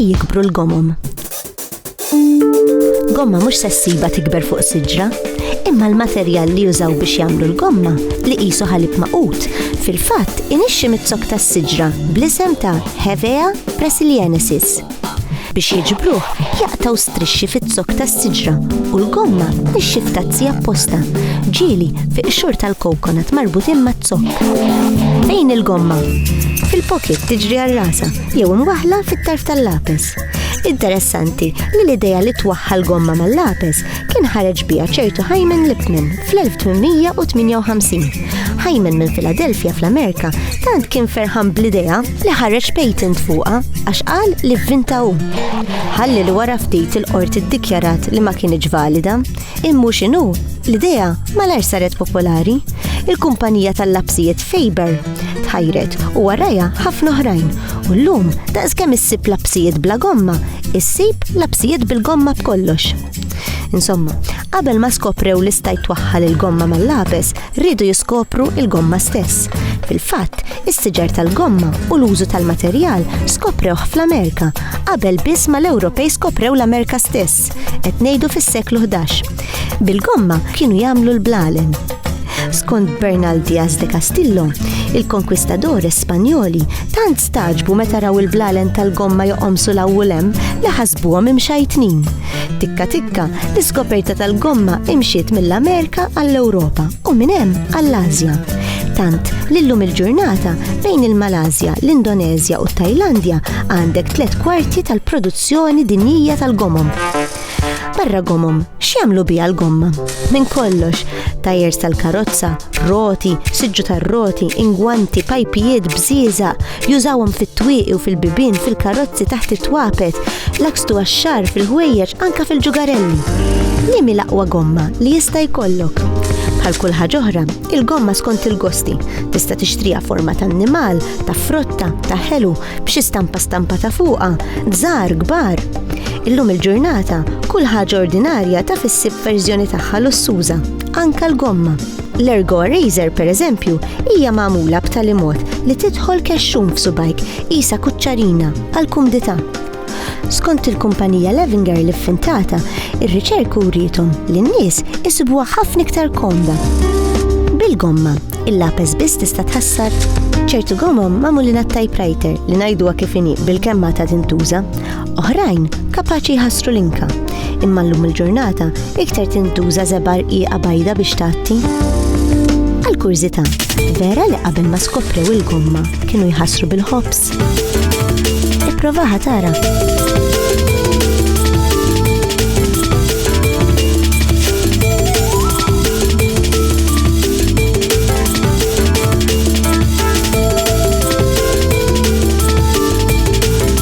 Fej jikbru l-gomom? Gomma mhux se ssiba tikber fuq siġra, imma l-materjal li jużaw biex jagħmlu l-gomma li qisu ħalib maqut fil-fatt inixxi mit-zok tas-siġra bl-isem ta' Hevea brasiliensis. Biex jiġbruh, jaqtgħu strixxi fiz-zokk tas-siġra u l-gomma tnixxi f'tazzi apposta, ġieli fi qxur tal-coconut marbutin maz-zokk. Fejn il-gomma? Fil-pocket tiġri għal rasa jew imwaħħla fit-tarf tal-lapes. Interessanti li l-idea li twaħħal gomma mal-lapes kien ħareġ biha ċertu Hyman Lipman fl-1858. Hyman minn Philadelphia fl-Amerika tant kien ferħan bl-idea li ħareġ patent fuqha għax qal li vvinta hu. Ħalli li wara ftit il-qorti ddikjarat li ma kienx valida, immu x'inhu l-idea malar saret popolari. Il-kumpanija tal-lapsijiet Faber tħajret u warajha ħafna oħrajn u llum daqs kemm issib lapsijiet bla gomma Issib labsijiet bil-gomma b'kollox. Insomma, qabel ma skoprew li stajt twaħħal il-gomma mal-lapes, rridu jiskopru il-gomma stess. Fil-fatt, is-siġar tal-gomma u l-użu tal-materjal skoprewh fl-Amerika, qabel biss ma l-Ewropej skoprew l-Amerika stess, qed ngħidu fis-seklu 11. Bil-gomma kienu jagħmlu l-blalen. Skont Bernal Diaz de Castillo, il-konkwistadores Spanjoli tant Tagħġbu meta raw il-blalen tal-gomma joqomsu l u lem li ħasbuhom imxajtnin. Tikka tikka, l-iskoperta tal-gomma imxiet mill-Amerika għall-Ewropa u minn hemm għall-Asja. Tant li llum il-ġurnata bejn il-Malasja, l-Indonezja u t-Tajlandja għandek tliet kwarti tal-produzzjoni dinjija tal-gomom. Barra gomom, x'jagħmlu biha l-gomma? Minn kollox, tajers tal-karozza, roti, siġġu tar-roti, ingwanti, pajpijiet, bżieża, jużawhom fit-twieqi u fil-bibien, fil-karozzi taħt it-twapet, lakstu għax-xar, fil-ħwejjeġ, anka fil-ġugarelli. Nimi l-aqwa gomma li jista' jkollok. Bħal kull ħaġa oħra, il-gomma skont il-gosti tista' tixtrija forma ta' annimal, ta' frotta, ta' ħelu, b'xi stampa stampa ta' fuqa, żgħar, kbar. Illum il-ġurnata, kull ħaġa ordinarja ta' fissib verżjoni tagħha lussuża. Anka l-gomma. L-Ergo Eraser, pereżempju, hija magħmula b'tali mod li tidħol kexxun f'subajk qisha kuċċarina għal kumdità. Skont il-kumpanija Levinger li ffintata, ir-riċerk uriethom li n-nies isibuha ħafna iktar komda. Bil-gomma, il-lapes biss tista' tħassar. Ċertu gomom magħmulin għat-typewriter li ngħiduha kif inhi bilkemm għadha tintuża, Oħrajn kapaċi jħassru l-inka, imma llum il-ġurnata iktar tintuża żebar qiegħa bajda biex tgħatti. Għal kurżità, vera li qabel ma skoprew il-gomma kienu jħassru bil-ħobs. Ipprovaha tara.